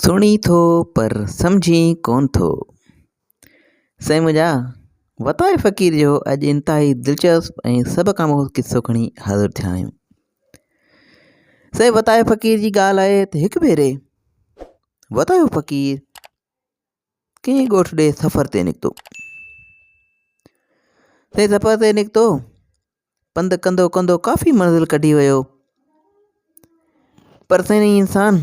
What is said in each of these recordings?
سڻين ٿو پر سمجهين ڪون ٿو. سائين منهنجا، وتائي فقير جو اڄ انتهائي دلچسپ ۽ سڀ کان مهذب قصو کڻي حاضر ٿيا آهيون. سائين وتائي فقير جي ڳالهه آهي ته هڪ ڀيري وتايو فقير ڪنهن ڳوٺ ڏي سفر تي نڪتو. سائين سفر تي نڪتو پنڌ ڪندو ڪندو ڪافي منزل ڪڍي ويو پر سنئين انسان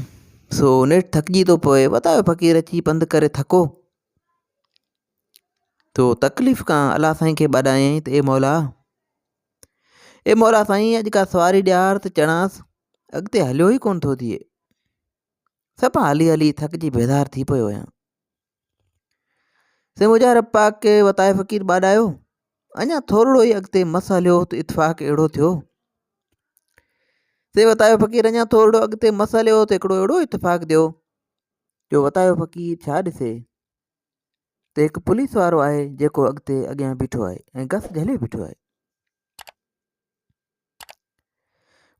سو نيٺ ٿڪجي ٿو پوي وتايو فقير اچي پنڌ ڪري ٿڪو تو تڪليف کان الله سائين کي ٻاڏايائين ته اي مولا اي مولا سائين اڄ کا سواري ڏيار ته چڙانس اڳتي هليو ئي ڪونه ٿو ٿئي سڀ هلي هلي ٿڪجي بيزار ٿي پيو آهيان سي مجاهر رب پاڪ کي وتائي فقير ٻاڏايو اڃا ٿورڙو ئي اڳتي مس هليو ته اتفاق اهڙو ٿيو سي وتايو فقير اڃا ٿورڙو اڳتي مس هليو ته هڪڙو اهڙو اتفاق ٿيو جو وتايو فقير ڇا ڏسي ته هڪ پوليس وارو آهي جيڪو اڳتي اڳيان بيٺو آهي ۽ گس جهلي بيٺو آهي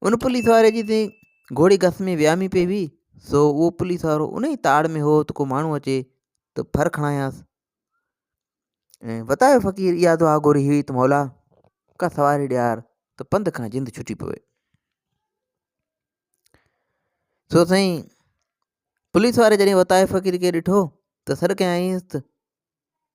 ان پوليس واري جي تي گھوڙي گس ۾ ويامي پئي هئي سو اهو پوليس وارو ان ئي تاڙ ۾ هو ته ڪو ماڻهو اچي ته ڦر کڻايانس ۽ وتايو فقير اها دعا گوري هئي ته مولا ڪا سواري ڏيار ته پنڌ کان جند ڇٽي پوي سو سائين پوليس واري جڏهن وتايو فقير کي ڏٺو ته سڏ ڪيائينس ته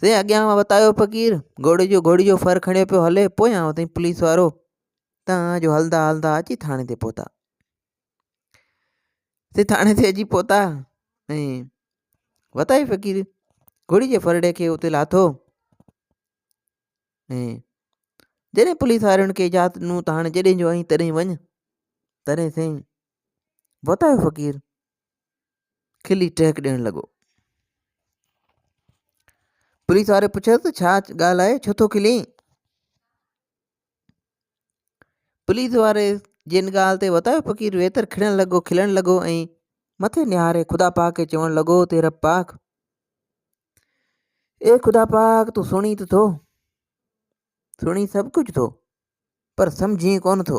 سائين اڳيان وتايو فقير گهوڙي جو گهوڙي جو ڦر کڻيو پيو هلي پويان وتائين پوليس وارو تان جو هلدا هلدا اچي ٿاڻي تي پهتا سي ٿاڻي تي اچي پهتا ۽ وتائي فقير گهوڙي جي ڦرڙي کي اتي لاٿو ۽ جڏهن پوليس وارن کي اجازت ڏنو ته هاڻي جڏهن جو آئين تڏهن وڃ تڏهن سائين وتايو فقير کلي ٽهڪ ڏيڻ لڳو. پوليس واري پڇيس ته ڇا ڳالهه آهي ڇو ٿو کلين پوليس واري جن ڳالهه تي وتايو فقير ويتر کڙڻ لڳو کلڻ لڳو ۽ مٿي نهاري خدا پاڪ کي چوڻ لڳو ته رب پاڪ اي خدا پاڪ تون سڻي ته ٿو سڻي سڀ ڪجهه ٿو پر سمجهين ڪونه ٿو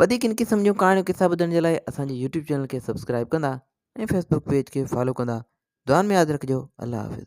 وڌيڪ ان قسم جون ڪهاڻيون قصا ٻڌڻ جي لاء اسان جي يوٽيوب چينل کي سبسڪرائب ڪندا ۽ فيسبوڪ پيج کي فالو ڪندا دعان ۾ ياد رکجو الله حافظ